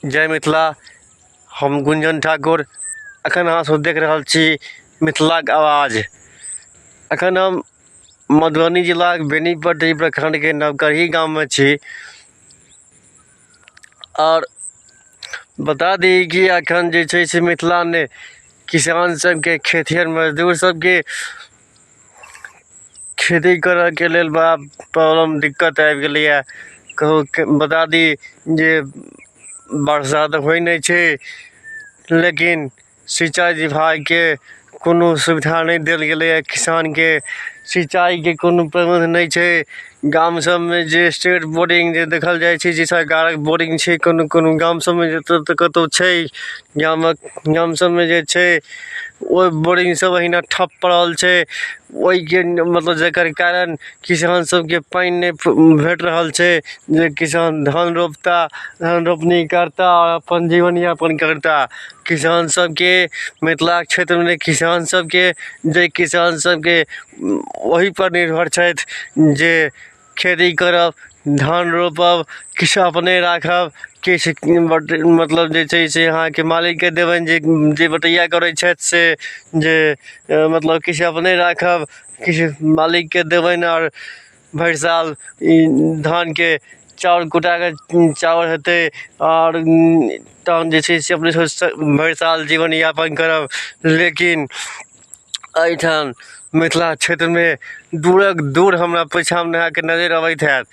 जय मिथिला हम गुंजन ठाकुर अखन अहाँ सब देख रहल छी मिथिलाक आवाज अखन हम मधुबनी जिलाक बेनीपट्टी प्रखंडके नवकरही गाममे छी आओर बता दी कि अखन जे छै से मिथिला ने किसान सबके खेतिहर मजदूर सबके खेती करऽके लेल बड़ा प्रॉब्लम दिक्कत आबि गेलैया कहुँके बता दी जे बरसा तऽ होइ नहि छै लेकिन सिंचाइ विभागके कोनो सुविधा नहि देल गेलैया किसानके सिंचाइके कोनो प्रबन्ध नहि छै गाम सबमे जे स्टेट बोरिंग जे देखल जाइ छै जे सरकारक बोरिंग छै कोनो कोनो गाम सबमे जतऽ तऽ कतौ छै गामक गाम सबमे जे छै ओ बोरिंग सब एहिना ठप पड़ल छै ओहिके मतलब जेकर कारण किसान सबके पानि नहि भेट रहल छै जे किसान धान रोपता धान रोपनी करता आओर अपन जीवन यापन करता किसान सबके मिथिला क्षेत्रमे किसान सबके जे किसान सबके ओहि पर निर्भर छथि जे खेती करब धान रोपब किछु अपने राखब किछु मतलब जे छै से अहाँके मालिकके देबनि जे जे बटैया करै छथि से जे मतलब किछु अपने राखब किछु मालिकके देबनि आओर भरि साल ई धानके चाउर कुटा कऽ चाउर हेतै आओर तहन जे छै से अपने भरि साल जीवन यापन करब लेकिन एहिठाम मिथिला क्षेत्रमे दूरक दूर हमरा पछाँमे नहा कऽ नजरि अबैत हएत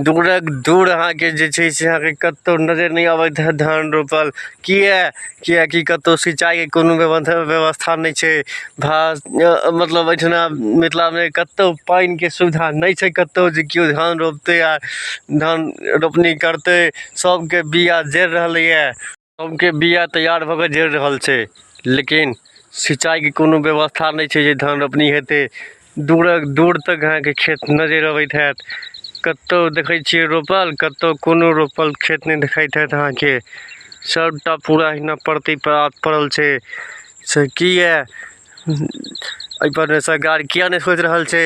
दूरक दूर अहाँके जे छै से अहाँके कतहु नजरि नहि अबैत हएत धान रोपल किए किएकि कतहु सिंचाइके कोनो व्यवथा व्यवस्था नहि छै भा मतलब एहिठिना मिथिलामे कतहु पानिके सुविधा नहि छै कतहु जे केओ धान रोपतै आ धान रोपनी करतै सभके बीआ जरि रहलैए के बिया तैयार भऽ कऽ जड़ि रहल छै लेकिन सिंचाइके कोनो व्यवस्था नहि छै जे धान रोपनी हेतै दूरक दूर तक अहाँके खेत नजरि अबैत हैत कतहु देखै छियै रोपल कतहु कोनो रोपल खेत नहि देखाइत हैत अहाँके सभटा पूरा अहिना परती परात पड़ल छै से किए एहिपर सरकार किए नहि सोचि रहल छै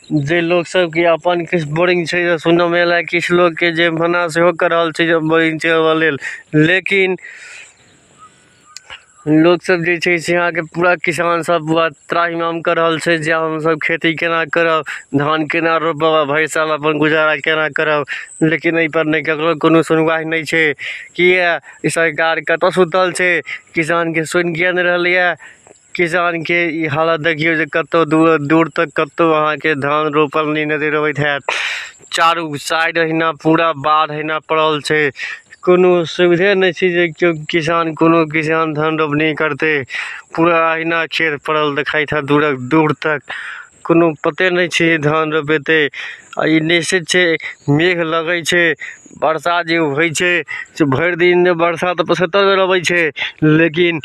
जे लोक सबके अपन किछु बोरिंग छै जे सुनऽमे एलै किछु लोकके जे मना सेहो कऽ रहल छै जे बोरिंग छै ओकरा लेल लेकिन लोक सब जे छै से अहाँके पूरा किसान सब पूरा त्राहिमाम कऽ रहल छै जे आब हमसब खेती केना करब धान केना रोपब आ भरि साल अपन गुजारा केना करब लेकिन एहि पर नहि केकरो कोनो सुनबाहि नहि छै किए ई सरकार कतऽ सुतल छै किसानके सुनि किए नहि रहलैए किसानके ई हालत देखियौ जे कतौ दूर दूर तक कतौ अहाँके धान रोपल नहि नजर अबैत हैत चारू साइड अहिना पूरा बाढ़ अहिना पड़ल छै कोनो सुविधे नहि छै जे केओ किसान कोनो किसान धान रोपनी करतै पूरा अहिना खेत पड़ल देखाइत हैत दूरक दूर तक कोनो पते नहि छै जे धान रोपेतै आ ई निश्चित छै मेघ लगै छै वर्षा जे होइ छै से भरि दिन वर्षा तऽ पचहत्तरि बेर अबै छै लेकिन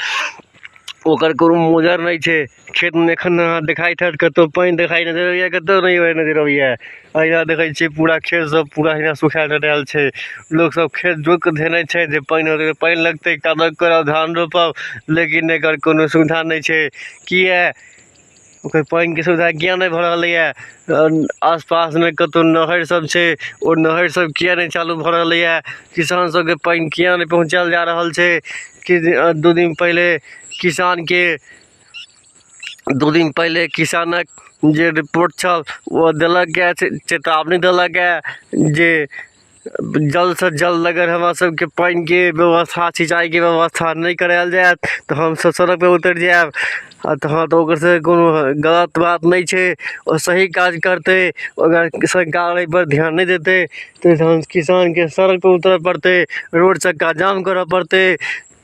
ओकर कोनो मोजर नहि छै खेतमे एखन अहाँ देखाइत हैत कतहु पानि देखाइ नजरि अबैए कतहु नहि पानि नजरि अबैए अहिना देखै छियै पूरा खेतसभ पूरा अहिना सुखाए डँटाएल छै लोकसभ खेत जोति कऽ धेने छै जे पानि हेतै तऽ पानि लगतै कादो करब धान रोपब लेकिन एकर कोनो सुविधा नहि छै किएक ओकर पानिके सुविधा किए नहि भऽ रहलैए आसपासमे कतहु नहरिसभ छै ओ नहरिसभ किए नहि चालू भऽ रहलैए किसान सभके पानि किए नहि पहुँचायल जा रहल छै किछु दिन दू दिन पहिले किसानके दू दिन पहिले किसानक जे रिपोर्ट छल ओ देलकए चेतावनी देलकए जे जल्दसँ जल्द अगर हमरा सबके पानिके व्यवस्था सिंचाइके व्यवस्था नहि करायल जायत तऽ हमसब सड़कपर उतरि जायब आओर तहन तऽ ओकर सबके कोनो गलत बात नहि छै ओ सही काज करतै अगर सरकार अइपर ध्यान नहि देतै तऽ तहन किसानके सड़कपर उतरऽ पड़तै रोड चक्का जाम करऽ पड़तै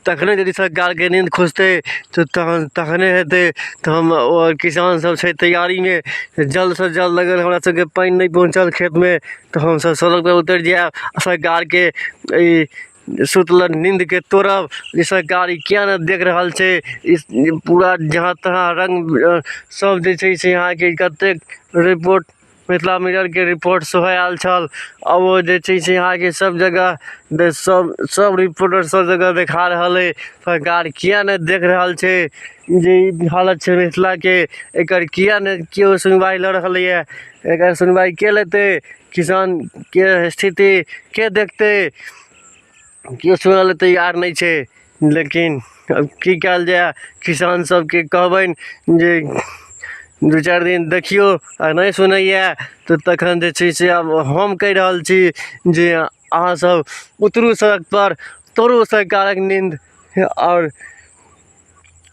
तखने यदि सरकारके नींद खुजतै तऽ तहन तखने हेतै तऽ हम आओर किसान सब छै तैयारीमे जल्द सँ जल्द अगर हमरा सबके पानि नहि पहुँचल खेतमे तऽ हमसब सड़कपर उतरि जायब आओर सरकारके ई सुतलक नीन्दके तोड़ब जे सरकार ई किया नहि देख रहल छै ई पूरा जहाँ तहाँ रङ्ग सब जे छै से अहाँके कतेक रिपोर्ट मिथिला मिररके रिपोर्ट सेहो आयल छल आओर ओ जे छै से अहाँके सब जगह दे सब सब रिपोर्टर सब जगह देखा रहल अइ सरकार किया नहि देख रहल छै जे ई हालत छै मिथिलाके एकर किया नहि केओ सुनवाइ लऽ रहलैये एकर सुनवाइ के लेतै किसानके स्थिति के देखतै केओ सुनऽ लए तैयार नहि छै लेकिन अब की कयल जाय किसान सबके कहबनि जे दू चारि दिन देखियौ आ नहि सुनैया तऽ तखन जे छै से आब हम कहि रहल छी जे अहाँ सब उतरू सड़क पर तोड़ू सरकारक नींद आओर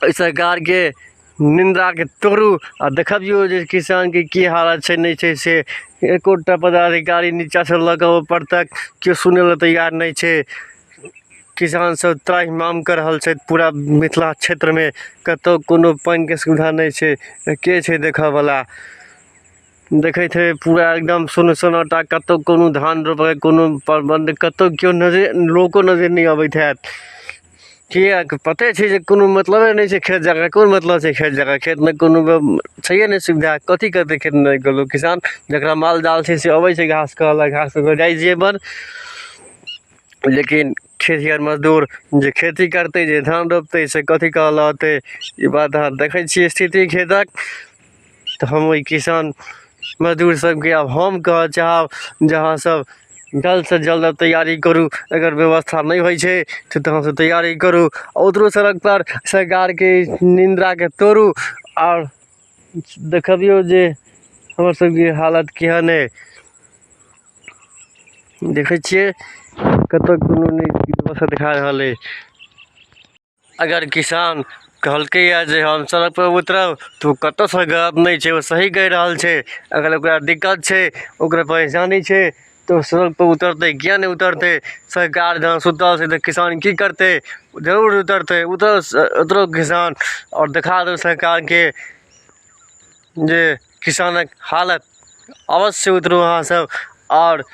एहि सरकारके निन्दाके तोड़ू आ देखबियौ जे किसानके की हालत छै नहि छै से एकोटा पदाधिकारी नीचाँसँ लऽ कऽ ऊपर तक केओ सुनै लए तैयार नहि छै किसान सब त्राहि माम कऽ रहल छथि पूरा मिथिला क्षेत्रमे कतौ कोनो पानिके सुविधा नहि छै तऽ के छै देखऽ बला देखैत हेबै पूरा एकदम सुन सन्नाटा कतौ कोनो धान रोपबै कोनो प्रबन्ध कतौ केओ नजरे लोको नजरि नहि अबैत होयत किएक पते छै जे कोनो मतलबे नहि छै खेत जगह कोन मतलब छै खेत जगह खेतमे कोनो छैहे नहि सुविधा कथी करतै खेतमे कऽ लोक किसान जकरा माल जाल छै से अबै छै घास खाय लए घास खाय कऽ जाइ छै अपन लेकिन खेतिहर मजदूर जे खेती करतै जे धान रोपतै से कथी कऽ लऽ अयतै ई बात अहाँ देखै छियै स्थिति खेतक तऽ हम ओहि किसान मजदूर सबके आब हम कहऽ चाहब जे अहाँ सब जल्द सँ जल्द तैयारी करू एकर व्यवस्था नहि होइ छै तऽ तहन सँ तैयारी करू ओतरो सड़क पर सरकारके निंदाके तोड़ू आओर देखबियौ जे हमर सबके हालत केहन अइ देखै छियै कतऽ कोनो नहि व्यवस्था देखा रहल अइ अगर किसान कहलकैए जे हम सड़कपर उतरब तऽ ओ कतऽसँ गलत नहि छै ओ सही कहि रहल छै अगर ओकरा दिक्कत छै ओकरा परेशानी छै तऽ ओ सड़कपर उतरतै किएक नहि उतरतै सरकार जहन सुतल छै तऽ किसान कि करतै जरूर उतरतै उतरस उतरौ किसान आओर देखा दौ सरकारके जे किसानके हालत अवश्य उतरू अहाँसभ आओर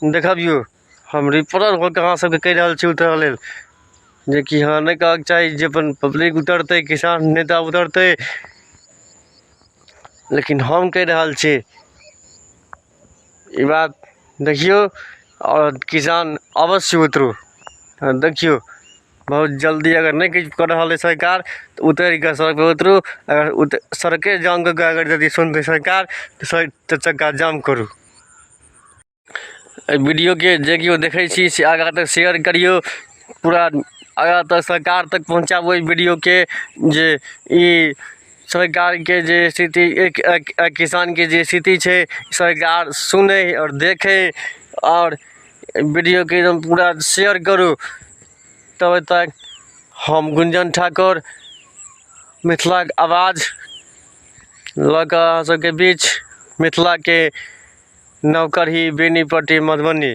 देखबिऔ हम रिपोर्टर भऽ कऽ अहाँ सबके कहि रहल छी उतरऽ लेल जेकि अहाँ नहि कहऽके चाही जे अपन पब्लिक उतरतै किसान नेता उतरतै लेकिन हम कहि रहल छी ई बात देखियौ आओर किसान अवश्य उतरू आ देखियौ बहुत जल्दी अगर नहि किछु कऽ रहल अइ सरकार तऽ उतरि कऽ सड़कपर उतरू अगर उत सड़के जाम कऽ कऽ अगर यदि सुनतै सरकार तऽ सड़क तऽ चक्का जाम करू एहि वीडियोकेँ जे केओ देखै छी से आगाँ तक शेयर करियौ पूरा आगाँ तक सरकार तक पहुँचाबू एहि वीडियोकेँ जे ई सरकारके जे स्थिति एक एक एक किसानके जे स्थिति छै सरकार सुनै आओर देखै आओर वीडियोकेँ एकदम पूरा शेयर करू तब तक हम गुंजन ठाकुर मिथिलाक आवाज लऽ कऽ अहाँ सबके बीच मिथिलाके नवकरही बेनीपट्टी मधुबनी